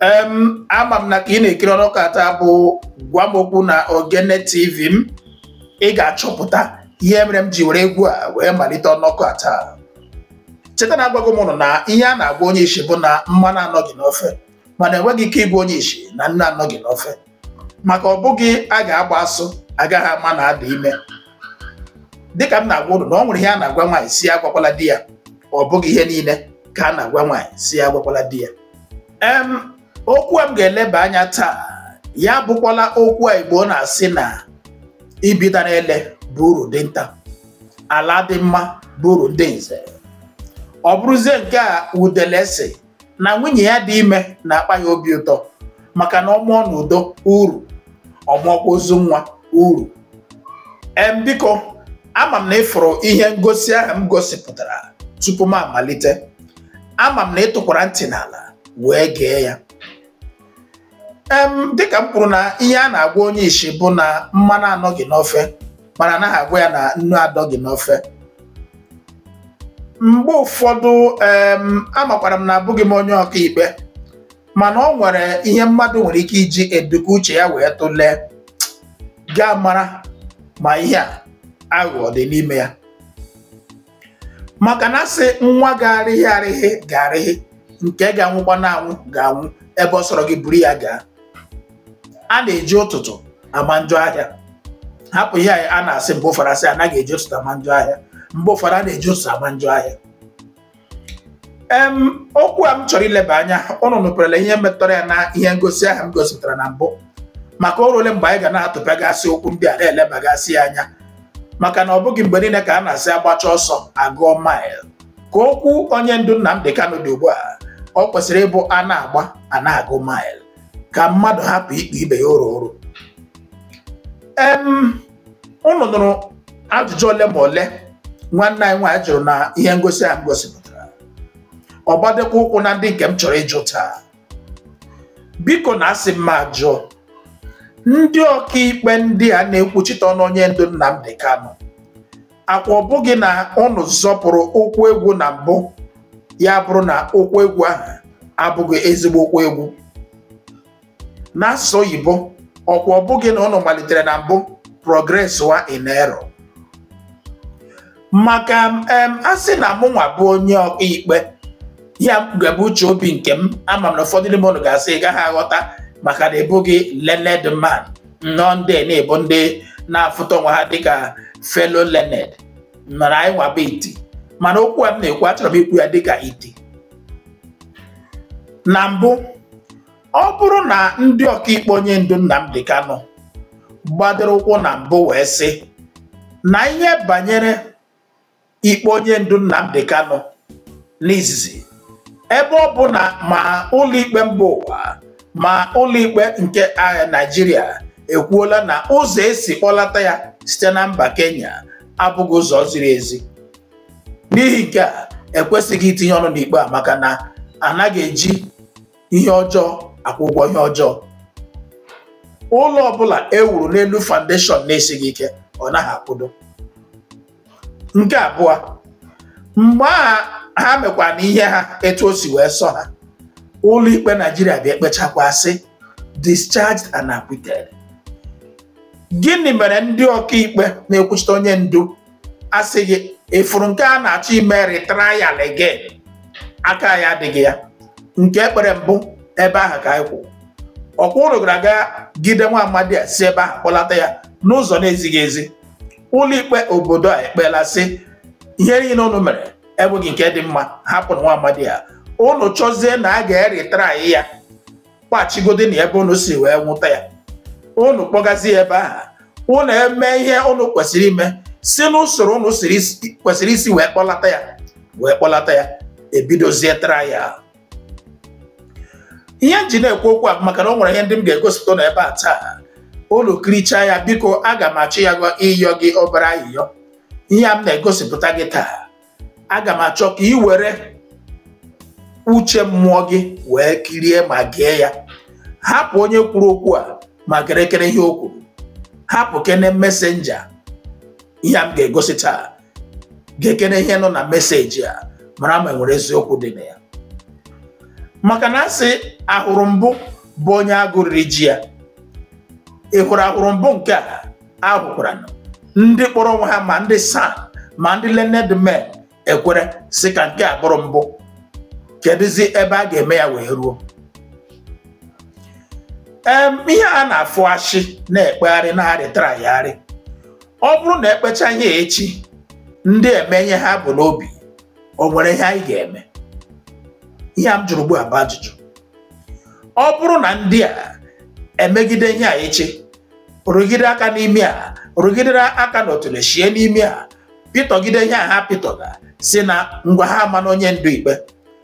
em ama m na ka ị na-ekiri ọnọkọ a taa bụ gwa m okwu na ogene tv m ị ga-achọpụta ihe mere m ji were egwu a wee malite ọnọkọ a taa cheta na agwago m ụnụ na ihe a na-agwa onye isi bụ na mmanụ anọghị n'ofe mana enweghị ike ịgwa onye isi na nnu anọghị n'ofe maka ọ bụghị a ga-agba asụ agaghị ama na a dị ime dịka m na-agwa ụnụ na ọ nwere ihe a na-agwa nwaanyị sị ya agwakwala di ya ọ bụghị ihe niile ka a na-agwa nwaanyị sị ya agwakwala di ya em okwu a m ga-eleba anya taa ya bụkwala okwu a igbo na-asị na ibi dara ele bụ uru dinta ala adị mma bụ uru ndị nze ọ bụrụzie nke a udele sị na nwunye ya dị ime na-akpa ya obi ụtọ maka na ọ mụọ n'udo uru ọ mụọkwa ozu nwa uru em biko ama m na ị fụrụ ihe ngosi ahụ m gosipụtara tupu m amalite ama m na ị tọkwara ntị n'ala wee gee ya em dịka m kwuru na ihe a na-agwa onye isi bụ na mmanụ anọghị n'ofe mana anaghị agwa ya na nnu adọghị n'ofe mgbe ụfọdụ em amakwara m na abụghị m onye ọkaikpe mana ọ nwere ihe mmadụ nwere ike iji eduka uche ya wee tụlee gaa mara ma ihe a aghụghọ dị n'ime ya maka na a sị nwa ga-arịghị arịghị ga-arịghị nke ga-anwụkwanụ anwụ ga-anwụ ebe ọ sọrọ gị buru ya gaa a na-eji ụtụtụ ama njọ ahịa hapụ ihe a na-asị mgbe ụfọdụ a sị anaghị eji ụtụtụ ama njọ ahịa mgbe ụfọdụ a na-eji ụtụtụ ama njọ ahịa em okwu a m chọrọ ileba anya ụnụ nụperela ihe metụtara ya na ihe ngosi ahụ m gosipụtara na mbụ maka o ruole mgbe anyị ga na-atụpegasị okwu ndị a na-elebagasị ya anya maka na ọ bụghị mgbe niile ka a na-asị a gbachaa ọsọ a gụọ mile ka okwu onye ndu Nnamdi Kanu dị ugbu a o kwesịrị ịbụ a na-agba a na-agụ mile ka mmadụ hapụ ikpe ibe ya oro oro em unu nụrụ ajụjụ ole ma ole nwanne anyị nwaanyị jụrụ na ihe ngosi a m gosipụtara ọ gbadokwa ụkwụ na ndị nke m chọrọ ịjụ taa biko na asị m ajụọ ndị ọkaikpe ndị a na-ekwuchite ọnụ onye ndu Nnamdi Kanu akwa ọ bụghị na ụnụ zọpụrụ ụkwụ egwu na mbụ ya bụrụ na ụkwụ egwu ahụ abụghị ezigbo ụkwụ egwu n'asụsụ oyibo ọkwa ọ bụghị na ụnụ malitere na mbụ progress wa in error maka m em, a sị na mụ nwa bụ onye ọkaikpe ya ga-abụ uche obi nke m ama m na ụfọdụ n'ime unu ga-asị ị gaghị aghọta maka na ị bụghị learned man nnọọ ndị a na-ebu ndị na-afụta onwe ha dịka fellow learned mana anyị nwa bụ iti mana okwu a m na-ekwu achọrọ m ikwu ya dịka iti na mbụ ọ bụrụ na ndị ọkaikpe onye ndu Nnamdi Kanu gbadoro ụkwụ na mbụ wee sị na ihe banyere ikpe onye ndu Nnamdi Kanu n'izizi ebe ọ bụ na ma ụlọikpe mba ụwa ma ụlọikpe nke ah Naịjirịa ekwuola na ụzọ esi kpọlata ya site na mba Kenya abụghị ụzọ ziri ezi n'ihi nke a ekwesịghị itinye ọnụ n'ikpe a maka na anaghị eji ihe ọjọọ akwụ ụgwọ ihe ọjọọ ụlọ ọbụla e wuru n'elu foundation na-esighị ike ọ naghị akwụdo nke abụọ mgbe ahụ ha mekwana ihe ha etu o si wee sọ ha ụlọ ikpe Naịjirịa bịa ekpechakwa sị discharged and acquitted gịnị mere ndị ọkaikpe na-ekwuchite onye ndu asịghị ị fụrụ nke a na-achọ ime retrial again aka anyị adịghị ya nke e kpere mbụ ebe ahụ ka anyị kwụ ọkwa unu gara aga gide nwa amadi a si ebe ahụ kpọlata ya n'ụzọ na-ezighị ezi ụlọikpe obodo a ekpeela sị ihe niile unu mere enweghị nke dị mma hapụnụ nwa amadi a unu chọzie na a ga-eretry ya kpachigodi na ebe unu si wee nwụta ya unu kpọgazi ya ebe ahụ unu eme ihe unu kwesịrị ime si n'usoro unu siri isi- kwesịrị isi wee kpọlata ya wee kpọlata ya e bidozie trial ihe m ji na-ekwu okwu a bụ maka na o nwere ihe ndị m ga-egosipụta n'ebe a taa unu kirichaa ya biko aga m achọ ya gwa ịyọ gị obere ayịyọ ihe a m na-egosipụta gị taa aga m achọ ka ị were uche mmụọ gị wee kirie ma gee ya hapụ onye kwuru okwu a ma gerekene ihe o kwuru hapụkene messenger ihe a m ga-egosi taa gekene ihe nọ na message a mara ma e nwere eziokwu dị na ya maka na a sị ahụrụ mbụ bụ onye agụ riri ji ya ị hụrụ ahụrụ mbụ nke a ahụkwara na ndị kpọrọ onwe ha ma ndị SAN ma ndị learned men ekwere sị ka nke a bụrụ mbụ kedụzi ebe a ga-eme ya wee ruo em ihe a na-afụ a sị na-ekpegharị na-aretrygharị ọ bụrụ na e kpecha ihe echi ndị eme ihe ha bu n'obi o nwere ihe anyị ga-eme ihe a m jụrụ ugbu a bụ ajụjụ ọ bụrụ na ndị a emegide ihe a echi rụgide aka n'ime a rụgidere aka n'otule shie n'ime a pịtọgide ihe a ha pịtọga sị na ngwa ha amanụ onye ndu ikpe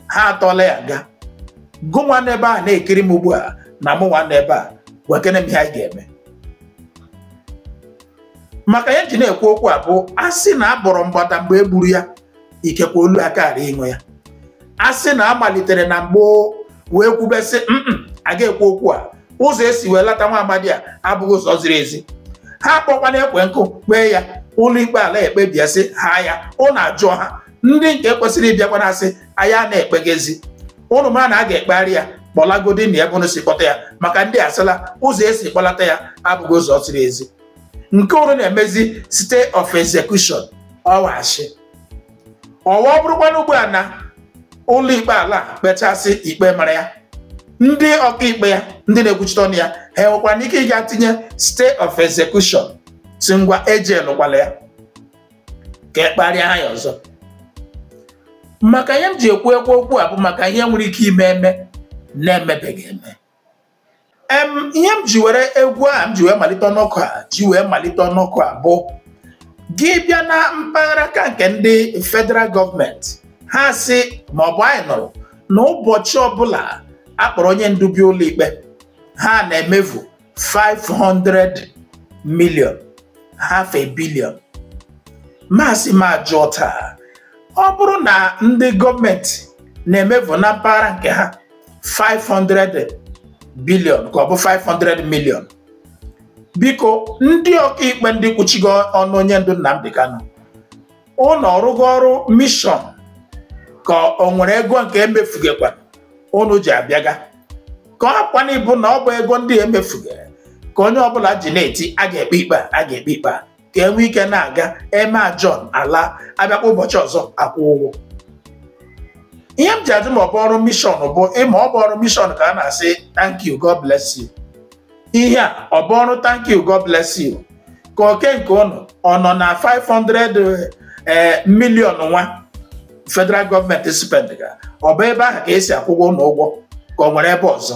ha atọla ya nga gụ nwa n'ebe a na-ekiri m ugbu a na mụ nwa n'ebe a gwakene m ihe anyị ga-eme maka ihe eji na-ekwu okwu a bụ a sị na abọrọ mgbada mgbe e gburu ya ikekwe olu akara ịṅụ ya a sị na a malitere na mgbo wee kwube sị mm a ga-ekwu okwu a ụzọ esi welata nwa amadi a abụghị ụzọ ziri ezi ha akpọkwana ekwe nkụ kpee ya ụlọikpe ala ekpebie sị haa ya ụnụ ajụ ha ndị nke kwesịrị ịbịakwana asị anyị a na-ekpeghezi ụnụ ma na a ga-ekpegharị ya kpọlagodi ya ebe ụnụ si kpọta ya maka ndị asịla ụzọ esi kpọlata ya abụghị ụzọ ziri ezi nke unu na-emezi stay of execution or whatsoever ọ bụrụkwana ugbu a na ụlọ ikpe ala kpechasị ikpe mara ya ndị ọkaikpe ya ndị na-ekwuchite ọnụ ya ha enwekwara ike ịga tinye stay of execution sị ngwa ejelụkwala ya ka e kpegharịa ha ya ọzọ maka ihe m ji ekwu ekwu okwu a bụ maka ihe nwere ike ime eme na-emebeghị eme ihe m ji were egwu a m ji wee malite ọnụ okwu a ji wee malite ọnụ okwu a bụ gị bịa na mpaghara ka nke ndị federal gọọmenti ha sị ma ọ bụ anyị nụrụ na ụbọchị ọbụla akpọrọ onye ndu bịa ụlọikpe ha na-emefu 500 million half a billion m asị m ajụọ taa ọ bụrụ na ndị gọọmenti na-emefu na mpaghara nke ha 500 billion ka ọ bụ 500 million biko ndị ọkaikpe ndị kwuchiga ọnụ onye ndu Nnamdi Kanu ụnụ ọ rụga ọrụ mishọn ka o nwere ego nke emefugekwa ụnụ ji abịaga ka ọ kwana ịbụ na ọ bụ ego ndị emefuge ka onye ọbụla ji na-eti a ga-ekpe ikpe a ga-ekpe ikpe a ka enwe ike na-aga eme adjourn ala abịakwa ụbọchị ọzọ akwụ ụgwọ ihe m ji ajụ ma ọ bụ ọrụ mishọn bụ ịma ọ bụ ọrụ mishọn ka a na-asị thank you god bless you ihe a ọ bụ ọrụ thank you god bless you ka oke nke ụnụ ọ nọ na 500 eh, million nwa federal gọọmenti spend ga ọ bụ ebe ahụ ka esi akwụga ụnụ ụgwọ ka o nwere ebe ọzọ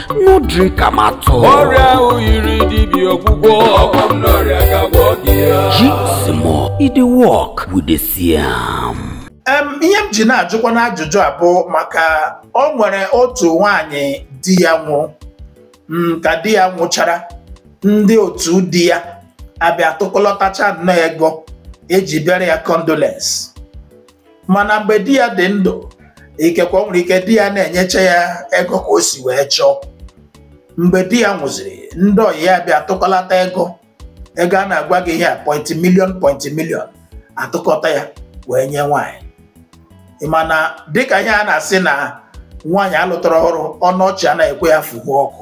no drink am at all. ọrịa ahụ nyịrị dibịa ọgwụgwọ ọgwọ nnụ ọrịa ga-agwọ gị ya Jigsimur e dey work we dey see am. Em, ihe m ji na-ajụkwanụ ajụjụ a bụ maka o nwere otu nwaanyị di ya nwụrụ ka di ya nwụchara ndị otu di ya abịa tụkọlọtacha nnọọ ego eji bịara ya condolence mana mgbe di ya dị ndụ ikekwe o nwere ike di ya na-enyecha ya ego ka o si wee chọọ mgbe di ya nwụziri ndị ọyị ya bịa tụkọlata ego ego a na-agwa gị ihe a point million point million atụkọta ya wee nye nwaanyị mana dịka ihe a na-asị na nwaanyị alụtara ọhụrụ ọnụ ọchị anaghị ekwe ya fụhụ ọkụ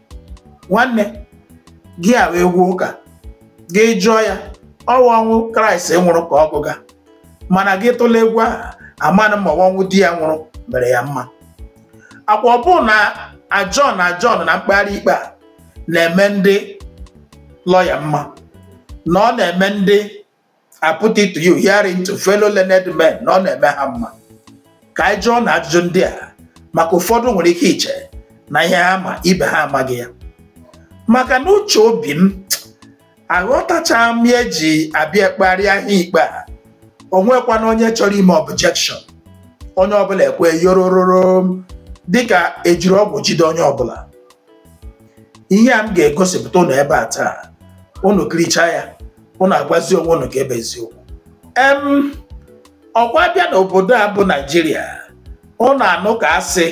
nwanne gị hawe egwu ụka gị jụọ ya ọwa ọnwụ kraịst nwụrụ ka ọ gụga mana gị tụla egwu ahụ amanụ ma ọnwụ di ya nwụrụ mere ya mma akwa ọ bụ na adjourn adjourn na mkpegharị ikpe a na-eme ndị lọya mma na ọ na-eme ndị I put it to you hearing to fellow learned men na ọ na-eme ha mma ka anyị jụọ na ajụjụ ndị a maka ụfọdụ nwere ike iche na ihe ha ma ibe ha amaghị ya maka na uche obi m aghọtacha m ihe eji abịa ekpegharị ikpe a o nwekwana onye chọrọ ime objection onye ọbụla ekwe yorororo dịka ejiri ọgwụ jide onye ọbụla ihe a m ga-egosipụta ụnụ ebe a taa ụnụ kirichaa ya ụnụ agwazi onwe ụnụ ka ebe eziokwu em ọkwa bịa n'obodo a bụ naijiria ụnụ anụ ka a sị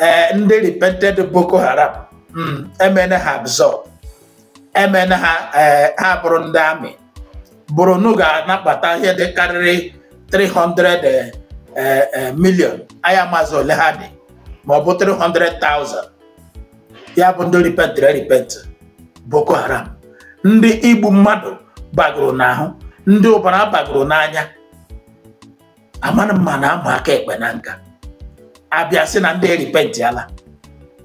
ee ndị repented boko haram mm, emene ha absorb emene ha eh, ha bụrụ ndị amị bụrụ nu ga-anabata ihe dị karịrị 300 eh, eh, million aya maazị ole ha dị ma ọ bụ 300,000 ya bụ ndị ripentịrị repent Boko Haram ndị igbu mmadụ bagoro n'ahụ ndị ọbara bagoro n'anya amanụ mma na ama aka ekpe na nka abịa sị na ndị eripentịala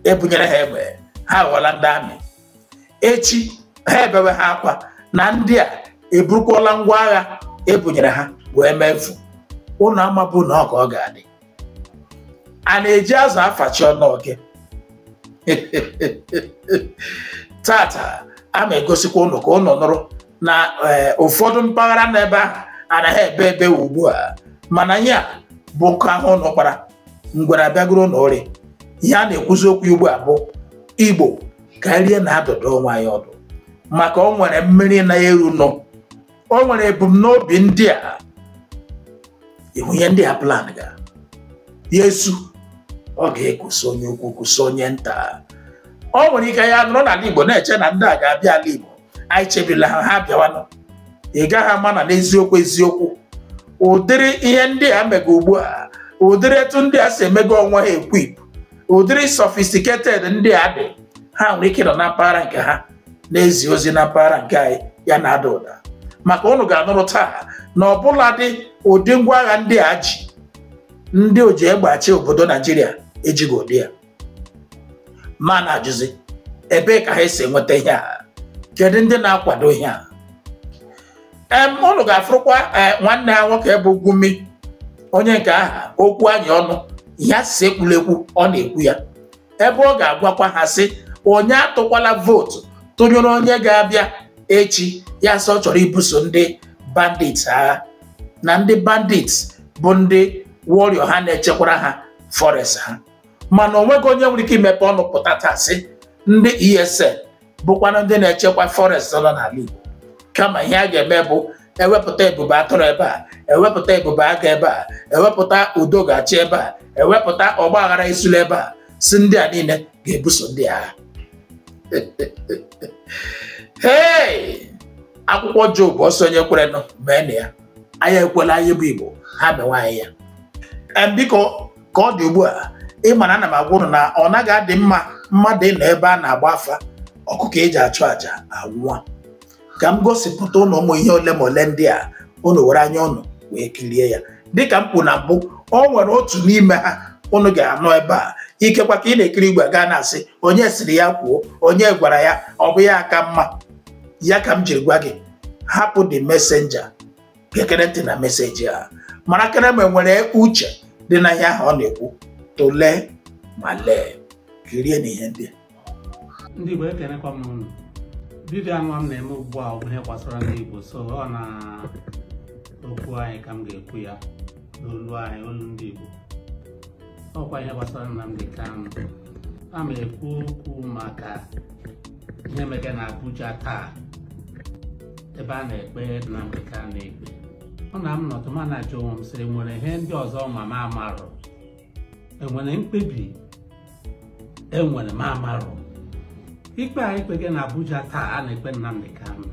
ebunyere ha egbe ha ghọla ndị amị echi ha ebewe ha akwa na ndị a eburukwala ngwa agha ebunyere ha wee mefu ụnụ amabụ na ọ ka ọ ga-adị a na-eji azụ afachi ọnụ oke tata a ma egosikwa ụnụ ka ụnụ nụrụ na eh, ụfọdụ mpaghara n'ebe ahụ anaghị ebe ebe ugbu a mana ya bụ nkụ ahụ ụnụ kpara ngwere abịagoro ụnụ ụrị ihe a na-ekwuzi okwu ugbu a bụ igbo ka anyị rie na-adụdụ onwe anyị ọdụ maka o nwere mmiri na-eru nọ o nwere ebumnobi ndị a ihu ihe ndị a plan ga ya esu ọ ga-ekwusa onye ukwu kwusa onye nta o nwere ike ya nọrọ n'ala igbo na-eche na ndị a ga-abịa ala igbo anyị chebirila ha ha bịawanụ ị gaghị ama na n'eziokwu eziokwu ụdịrị ihe ndị a mega ugbu a ụdịrị etu ndị a si emego onwe ha equip ụdịrị sophisticated ndị a dị ha nwere ike nọ na mpaghara nke ha na-ezi ozi na mpaghara nke anyị ya na-ada ụda maka ụnụ ga-anụrụ taa na ọbụladị ụdị ngwa agha ndị a ji ndị oji egbe achị obodo Naijiria ejighị ụdị ya ma na-ajụzi ebee ka ha esi enweta ihe a kedu ndị na-akwado ihe a em ụnụ ga-afụrụkwa eh, nwanne ha nwoke bụ Gumi onye nke ahụ okwu anyị ọnụ ya si ekwulekwu ọ na-ekwu ya ebe ọ ga-agwakwa ha sị onye atụkwala vootu tụnyere onye ga-abịa echi ya sị ọ chọrọ ibuso ndị bandits agha na ndị bandits bụ ndị warrior ha na-echekwara ha forest ha mana onweghị onye nwere ike imepe ọnụ pụta taa sị ndị ESN bụkwanụ ndị na-echekwa forest nọ n'ala Igbo kama ihe a ga-eme bụ ewepụta ebube atụrụ ebe a ewepụta ebube agụ ebe a ewepụta udo ga-achị ebe a ewepụta ọgba aghara esula ebe a sị ndị a niile ga-ebuso ndị agha hey akwụkwọ Job ọsọ onye kwerenụ mee na ya anyị ekwela anyị bụ Igbo ha mewe anyị ya biko ka ọ dị ugbu a ị ma na ana m agwa ụnụ na ọ naghị adị mma mmadụ ịnọ ebe a na-agba afa ọkụkọ eji achụ àjà anwụọ ka m gosipụta ụnụ ụmụ ihe ole ma ole ndị a ụnụ were anya ụnụ wee kirie ya dịka m kwuru na mbụ o nwere otu n'ime ha ụnụ ga-anọ ebe a ikekwa ka ị na-ekiri ị wee gaa na-asị onye siri ya kwuo onye gwara ya ọ bụ ya aka mma ya ka m jiri gwa gị hapụ the messenger gekere ntị na message a marakere ma e nwere uche dị na ihe ahụ ọ na-ekwu tụlee ma lee kirie na ihe ndị ndị Igbo ekenekwa m unu vidio anụwa m na-eme ugbu a ọ bụ ihe gbasara ndị Igbo so ọ na okwu anyị ka m ga-ekwu ya n'olu anyị olu ndị Igbo ọkwa ihe gbasara Nnamdi Kanu a ma ekwu okwu maka ihe mege na Abuja taa ebe a na-ekpe Nnamdi Kanu ikpe ọ na m nọtụ ma na-ajụ onwe m sị enwere ihe ndị ọzọ ma m amarụ enwere mkpebi enwere m amarụ ikpe a ekpege na Abuja taa a na-ekpe Nnamdi Kanu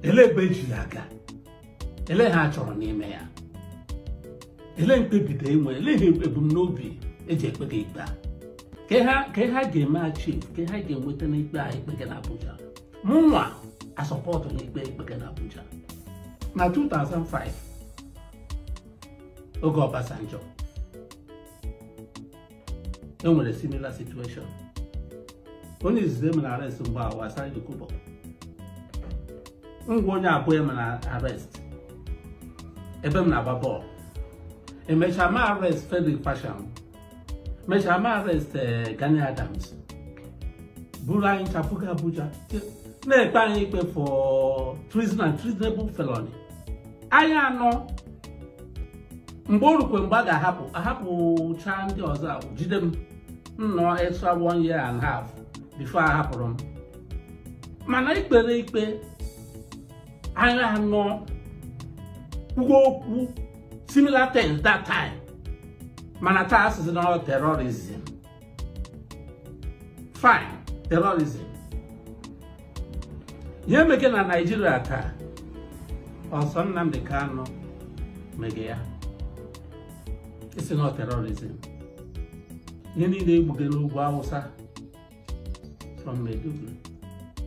elee ebe eji ya aga elee ihe a chọrọ n'ime ya elee mkpebite enwere elee ihe ebumnobi eji ekpege ikpe a ka ihe ha ga-eme achieve ka ihe ha ga-enweta n'ikpe a ekpege na Abuja mụ nwa asọpọtụ n'ikpe ekpege na Abuja na 2005 oge Obasanjo e nwere similar situation onye izizi emere arrest mgbe ahụ wụ Asari Dokubo ngwa onye abụọ emere arrest ebe m na-agba bọọlụ emechaa ma arrest Frederick Fasehun mechaa ma arrest eh, Gani Adams buru anyị ncha pụga Abuja na-ekpe anyị ikpe for treason and treasonable felony anyị anọ mgbe o rukwe mgbe a ga-ahapụ ahapụcha ndị ọzọ ahụ jide m m nọọ extra one year and half before ahapụrụ m mana ekpere ikpe anyị anọ kwuo okwu similar things that time mana taa asịzi na terrorism fine terrorism ihe mege na naijiria taa ọ sọ nnamdị kanụ mege ya ị sị na terrorism ihe niile egbuge n'ugwu awụsa from Maiduguri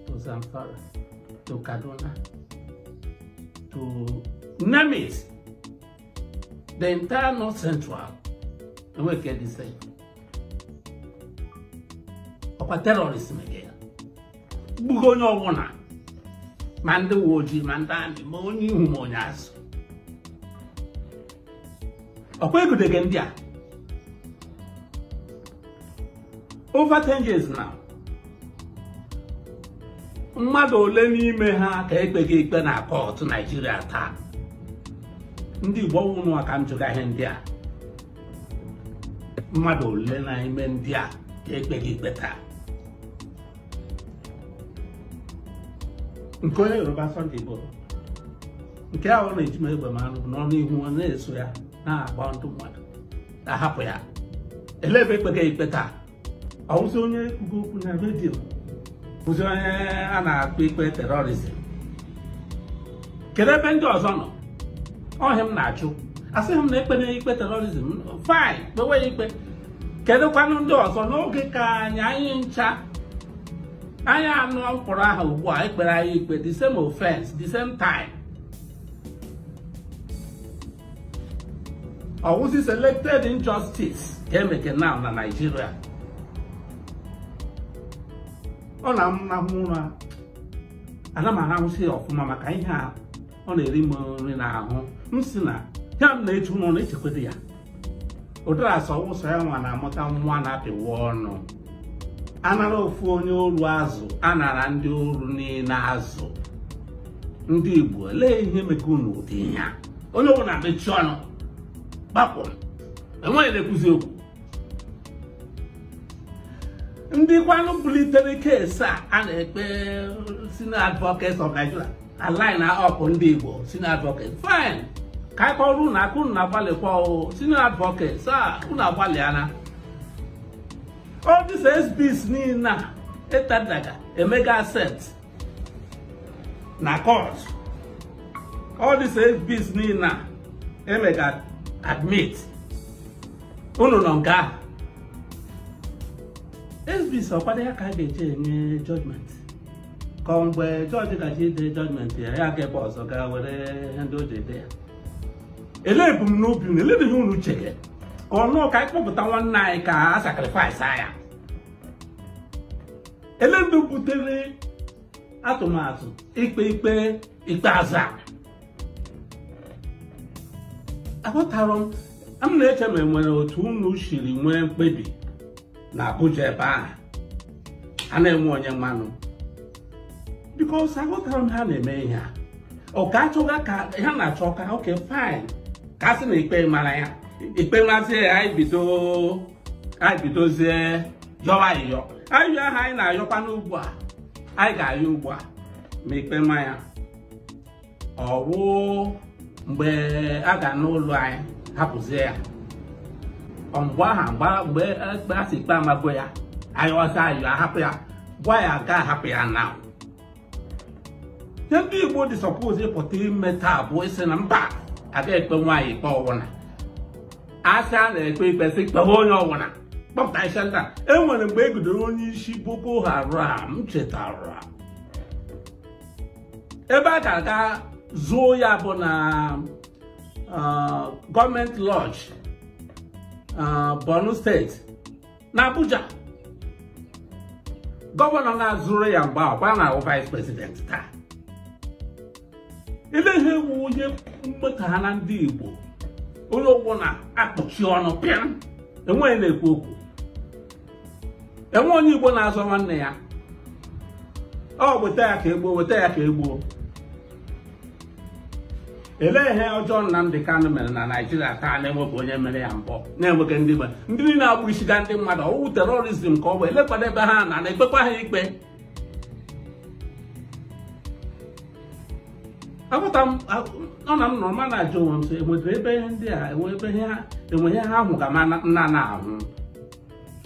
to Zamfara to Kaduna to name it the entire north central e nwee ke dị safe ọkwa terọrizm egbugo onye ọbụla ma ndị uwe ojii ma ndị amị ma onye ihu ma onye azụ ọkwa egudege ndị a over 10 years now mmadụ ole n'ime ha ka ekpege ikpe na kọtụ naijiria taa ndị igbo ọ wụ unuwa ka m jụga ihe ndị a mmadụ ole n'ime ndị a ekpege ikpe taa nke onye yoruba Sunday Igboho nke ahụ na-eji ma egbe m anụ n'ọnụ ihu ọ na-eso ya na-agba ndị mmadụ na-ahapụ ya elee ebe ekpege ikpe taa ọwụzi onye kwuge okwu na redio bụzi onye a na-ekpe ikpe terọrizm kedu ebe ndị ọzọ nọ ọ ihe m na-ajụ asịghị m na ekpena ikpe terọrizm fine kpewe ya ikpe kedụkwanụ ndị ọzọ n'oge ka anyị anyị ncha anyị anọ m kpọrọ aha ugbu a ekpere anyị ikpe the same offense the same time ọwụzi selected injustice ka emeke na na Naịjirịa ọ na-anahụ ụra ana m arahụzi ya ọfụma maka ihe a ọ na-eri m nri n'ahụ m sị na ihe m na-eche unu ọ na-echekwado ya ụdara sị awụghị sọ ya nwa na-amụta nwa a na-apịwa ọnụ anara ofu onye oru azụ anara ndị oru niile azụ ndị Igbo lee ihe meke unu ụdị ihe onye ọbụla mechie ọnụ gbapụ enweghị na-ekwuzi okwu ndị kwanụ bulitere keesi a a na-ekpe senior advocates of Nigeria a line up ndị Igbo senior advocates fine ka anyị kụọrọ unu aka unu na-agbalịkwa o senior advocates a unu agbalịana all these exhibits niile a etendaga emega accept na court all these exhibits niile a emega admit unu nọ nga ahụ exhibits ọ kwanụ ya ka a ga-eji enye judgment ka ọ mgbe jọji ga-eji ide judgment ya ya ga ebe ọzọ gaa were ihe ndị o ji ede ya elee ebumnobi unu eleedị ihe unu chere ka ọ nnọọ ka anyị kpọpụta nwanne anyị ka a sacrifice ya elee ndị butere atụmatụ ikpe ikpe ikpeazụ a aghọtara m m na-eche ma enwere otu unu siri nwee mkpebi na Abuja ebe ahụ a na-enwe onye manụ because aghọtara m ha na-eme ihe a ọ ka achọga ka ha na-achọ ka okay fine ka a sị na ikpe mara ya ikpe mazie ya anyị bido anyị bidozie yọwa ayịyọ ayịyọ ahụ anyị na-ayọkwa n'ugbu a anyị ga-ayọ ugbu a ma ikpe ma ya ọwụ mgbe a ga-anụrụ anyị hapụzie ya ọ mgbe ahụ mgbe ekpe a sị ikpe amago ya ayọzi ayọ ahapụ ya gwa ya ga ahapụ ya na ihe ndị Igbo dị suppose ịpụta ime taa bụ ịsị na mba aga ekpe nwa anyị ikpe ọwụna asị a na-ekpe ikpe sị kpewe onye ọwụna kpọpụta isi ndị a e nwere mgbe e gidere onye isi Boko Haram m chetara ebe a ga-aga zuo ya bụ na Government Lodge Borno State na Abuja gọvanọ ga zuru ya mgbe ọ kwa na-awụ vice president taa elee ihe wụ ihe mmeta ha na ndị Igbo onye ọbụla akpọchi ọnụ pịam enweghị na-ekwu okwu enwe onye Igbo na-azọ nwanne ya ọ weta ya ka egbuo weta ya ka egbuo elee ihe ọjọọ Nnamdi Kanu mere na Naịjirịa taa na-enweghị onye mere ya mbụ na-enweghị ndị mere ndị niile na-egbusiga ndị mmadụ ọwụ terrorism ka ọ bụ eleekwanụ ebe ha na na-ekpekwa ha ikpe aghọta m ọ na m nọrọ m na-ajụ onwe m sị enwetara ebe ihe ndị a enwe ebe ihe ha enwe ihe ha hụga m na-ana ahụ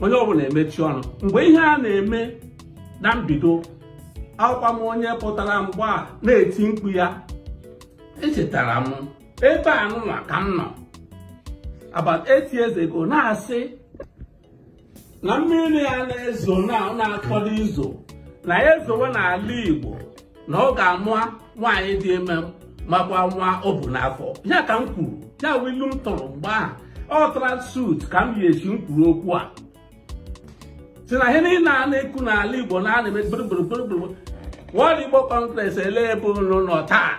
onye ọbụla emechi ọnụ mgbe ihe a na-eme na mbido awụkwa m onye pụtara mgbe a na-eti mkpu ya echetara m ebe anụnwa ka m nọ about eight years ago na-asị na mmiri ya na-ezo na na-akwado izo na ya ezowe n'ala Igbo na ọ ga-ama nwaanyị dị ime makwa nwa o bu n'afọ ya ka m kwuru ya bụ ilu m tụrụ mgbe ahụ ọ tara suit ka m yi echi m kwuru okwu a sị na ihe niile a na-ekwu n'ala igbo na a na-eme gburugburu World Igbo Congress ele ebe unu nọ taa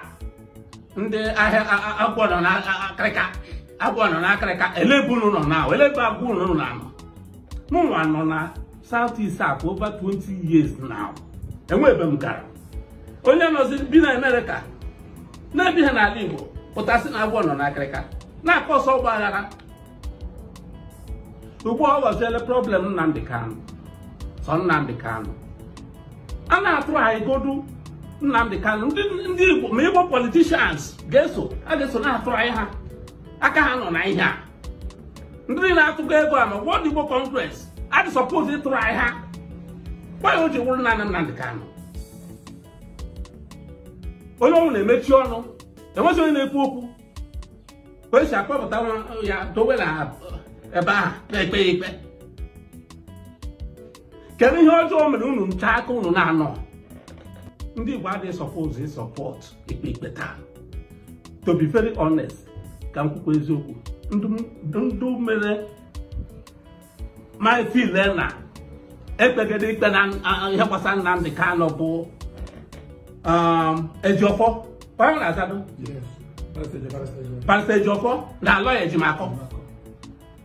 ndị ahịa agwọ nọ n'akịrịka agwọ nọ n'akịrịka ele ebe unu nọ na ele ebe agwọ unu nọ na anọ mụnwa nọ na South East a for over 20 years now enwe ebe m gara onye nọzi bi na Amerịka na-ebi ha n'ala Igbo pụta sị na agwọ nọ n'akịrịka na-akpasu ọgba aghara ugbu a ọ ghọziele problem Nnamdi Kanu so Nnamdi Kanu a na-atry godu Nnamdi Kanu ndị Igbo ma Igbo politicians ga-eso a ga-eso na-atry ha aka ha nọ na ihe a ndị niile atụkọ ego a na World Igbo Congress adị suppose ịtry ha gbanye o ji wụrụ naanị Nnamdị Kanụ onye ọwụna emechi ọnụ enweghị onye na-ekwu okwu ka esi akpọpụta ya dowe na ebe ahụ na-ekpe ya ikpe kedu ihe ọjọọ o mere unu ncha aka unu na-anọ ndị Igbo adịghị suppose ịsupport ikpe ikpe taa to be very honest ka m kwukwa eziokwu ndị mere m I feel na ekpegide ikpe na ihe gbasara Nnamdi Kanu bụ Ejiofor onye ọ na-azado Barrister Ejiofor na Aloy Ejimakor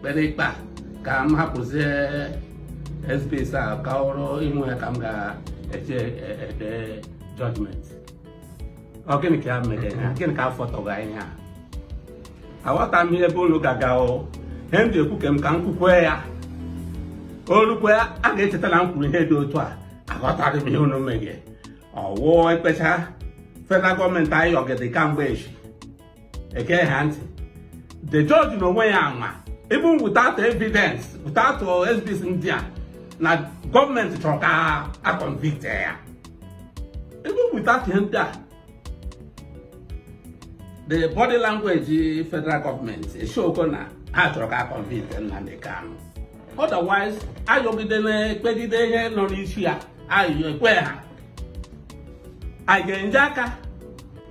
kpere ikpe a ka m hapụzie exhibits a ka ọrụ ime ya ka m ga-eji ede judgment ọ gịnị ka ya mere ha gịnị ka afọ tọga ihe a aghọta m ihe ebe unu ga-aga o ihe m ji ekwu ka m ka m kwukwe ya o rukwe a ga-echeta na m kwuru ihe dị otu a aghọtaghị m ihe unu meghe ọ wụ ekpecha federal gọọmenti ayọgide kamgbe echi ege ha ntị the judge na onwe ya anwa even without evidence without exhibits ndị a na gọọmenti chọrọ ka a convict ya even without ihe ndị a the body language federal government eshowgo na ha chọrọ ka a convict Nnamdi Kanu otherwise ayọgide na-ekpegide ihe nọ n'isi ya ayọ ekwe ha anyị ga-enye aka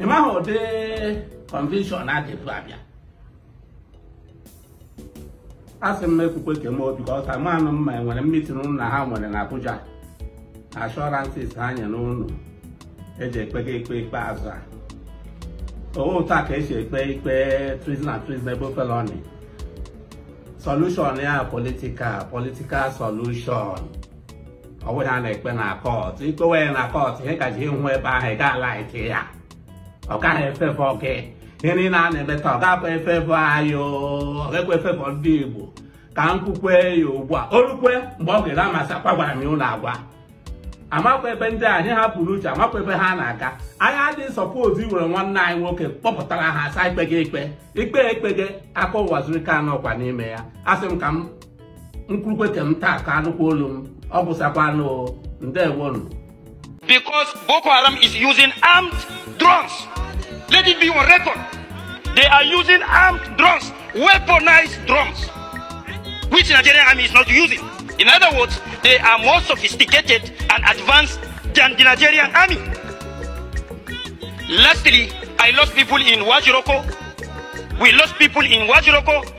ị maghị ụdị convention a ga-ebu abịa a sị m ekwukwe ka m because amanụ m ma enwere meeting ụnụ na ha nwere na Abuja na assurances ha nyere ụnụ eji ekpega ikpe ikpe azụ a ọ wụ otu a ka esi ekpe ikpe treason and treasonable felony solution ya political political solution ọ bụghị ihe a na-ekpe na court ikpewe ya na court ihe ka ji hụ ebe ahụ ị ga-ala ike ya ọ gaghị efavour gị ihe niile a na-eme taa ọ ga-abụ efavour anyị ọ ga-ekwe efavour ndị Igbo ka m kwukwe ya ugbu a o rukwe mgbe ọ ga-ere amasị akwa gwara m ya ụlọ agwa amakwa ebe ndị anyị ha pụrụ uche amakwa ebe ha na-aga anyị adịghị suppose iwere nwanne anyị nwoke kpọpụtara ha asa ikpe gị ikpe ikpe ekpe gị aka Uwazuruike anọkwa n'ime ya asị m ka m nkwurukwe ka m taa ka anụkwa olu m ọ gwụsakwa anụ ndewonu because Boko Haram is using armed drones. Let it be on record. They are using armed drones, weaponized drones, which Nigerian army is not using. In other words, they are more sophisticated and advanced than the Nigerian army. Lastly, I lost people in Wajiroko. We lost people in Wajiroko.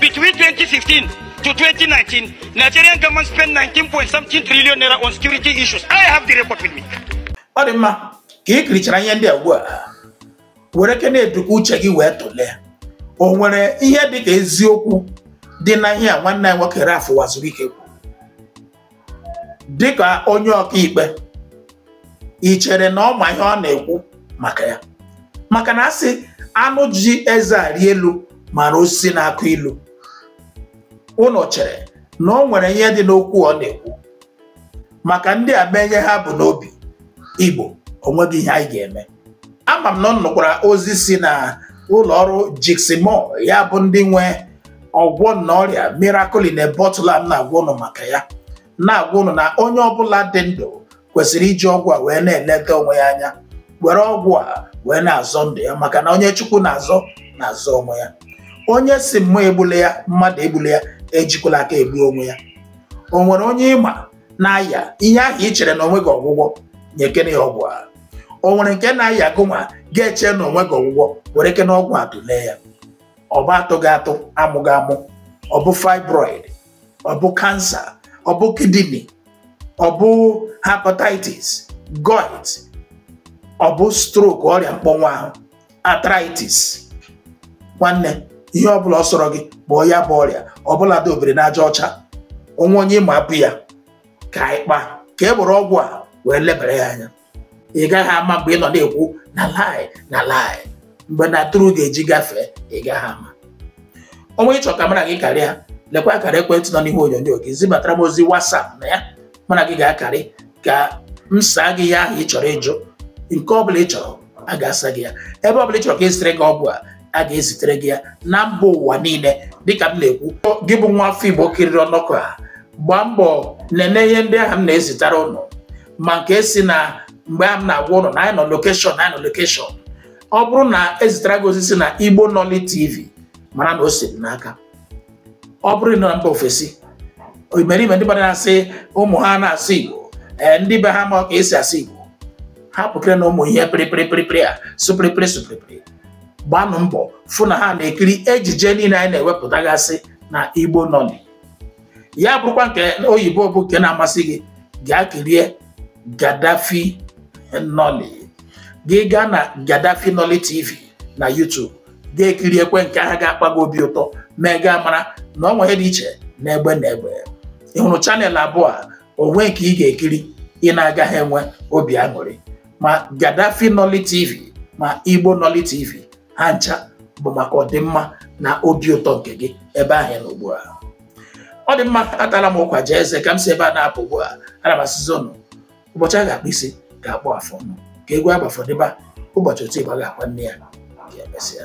Between 2015 to 2019, Nigerian government spent 19 point something trillion naira on security issues. I have the report with me. Ọ dị mma ka ị kirichara ihe ndị a ugbu a were ke na-edukwa uche gị wee tụlee o nwere ihe dị ka eziokwu dị na ihe a nwanne anyị nwoke Ralph Uwazuruike kwuru dịka onye ọkaikpe ị chere na ọ ma ihe ọ na-ekwu maka ya maka na asị anụ ji eze arị elu mara osisi na-akụ ilu ụnụ chere na ọ nwere ihe dị n'okwu ọ na-ekwu maka ndị a mee ihe ha bu n'obi Igbo onweghị ihe anyị ga-eme ama m na ụnụ nụkwara ozi si na ụlọ ọrụ Jigsimur ya bụ ndị nwe ọgwọ nnụ ọrịa miracle in a bottle a m na-agwa ụnụ maka ya na-agwa ụnụ na onye ọbụla dị ndụ kwesịrị iji ọgwụ a wee na-eleta onwe ya anya were ọgwụ a wee na-azọ ndụ ya maka na onye chukwu na-azọ na-azọ onwe ya onye sị mmụọ egbule ya mmadụ egbule ya ejikwala aka egbu onwe ya o nwere onye ị ma na-aya ihe ahụ i chere na onweghị ọgwụgwọ nyekene ya ọgwụ a o nwere nke na-aya gụnwa ga-eche na onweghị ọgwụgwọ were kene ọgwụ a tụlee ya ọ bụ atụghị atụ amụghị amụ ọ bụ fibroid ọ bụ cancer ọ bụ kidney ọ bụ hepatitis gout ọ bụ stroke ọrịa mkpọnwụ ahụ arthritis nwanne ihe ọbụla ọ sọrọ gị kpọọ ya bụ ọrịa ọbụladị obiri n'aja ọcha o nwee onye ị ma bu ya ka anyị kpaa ka e were ọgwụ a wee lebara ya anya ị gaghị ama mgbe ị nọ na-ekwu na lie na lie mgbe na true ga-eji gafee ị gaghị ama o nwee ihe ị chọ ka mara gị karịa lekwa akara ekwentị nọ n'ihu onyonyo gị zibatara m ozi WhatsApp na ya mụ na gị ga-akarị ka m saa gị ihe ahụ ị chọrọ ịjụ nke ọ bụla ị chọrọ a ga-asa gị ya ebe ọ bụla ị chọrọ ka ezitere gị ọgwụ a a ga-ezitere gị ya na mba ụwa niile dịka m na-ekwu gị bụ nwa afọ Igbo kiriri ọnọkọ a gbaa mbọ nene ihe ndị ahụ m na-ezitara ụnụ ma nke si na mgbe a m na-agwa ụnụ na anyị nọ lokeshọn ọ bụrụ na ezitara gị ozi si na Igbo Nolly TV mara na o si m n'aka ọ bụrụ na mba ofesi imerime ndị mmadụ na-asị ụmụ ha na-asụ Igbo ee ndị be ha ma ka esi asụ Igbo ha pụkere na ụmụ ihe pịrịpịrịpịrịpịrị a sụpịrịpịrị sụpịrịpịrị gbanụ mbọ fụ na ha na-ekiri ejije niile anyị na-ewepụtagasị na Igbo Nolly ya bụrụkwa nke oyibo bụ nke na-amasị gị gaa kirie Gaddafi Nolly gị gaa na Gaddafi Nolly TV na YouTube gaa kiriekwe nke ahụ ga-akpa gị obi ụtọ mee gị amara na ọ nwere ihe dị iche na egbe na egbe ị hụrụ channel abụọ a o nwe nke ị ga-ekiri ị na-agaghị enwe obi aṅụrị ma Gaddafi Nolly TV ma Igbo Nolly TV ha ncha bụ maka ọdịmma na obi ụtọ nke gị ebe ahụ ị nọ ugbu a ọ dị mma atala m ụkwa jaa eze ka m si ebe a na-apụ ugbu a ana m asịzi ụnụ ụbọchị a ga-akpụ isi ga-akpụ afọ ọnụ ka egwu agbafọdịba ụbọchị oti ịgba ga-akwa nne ya ka emesịa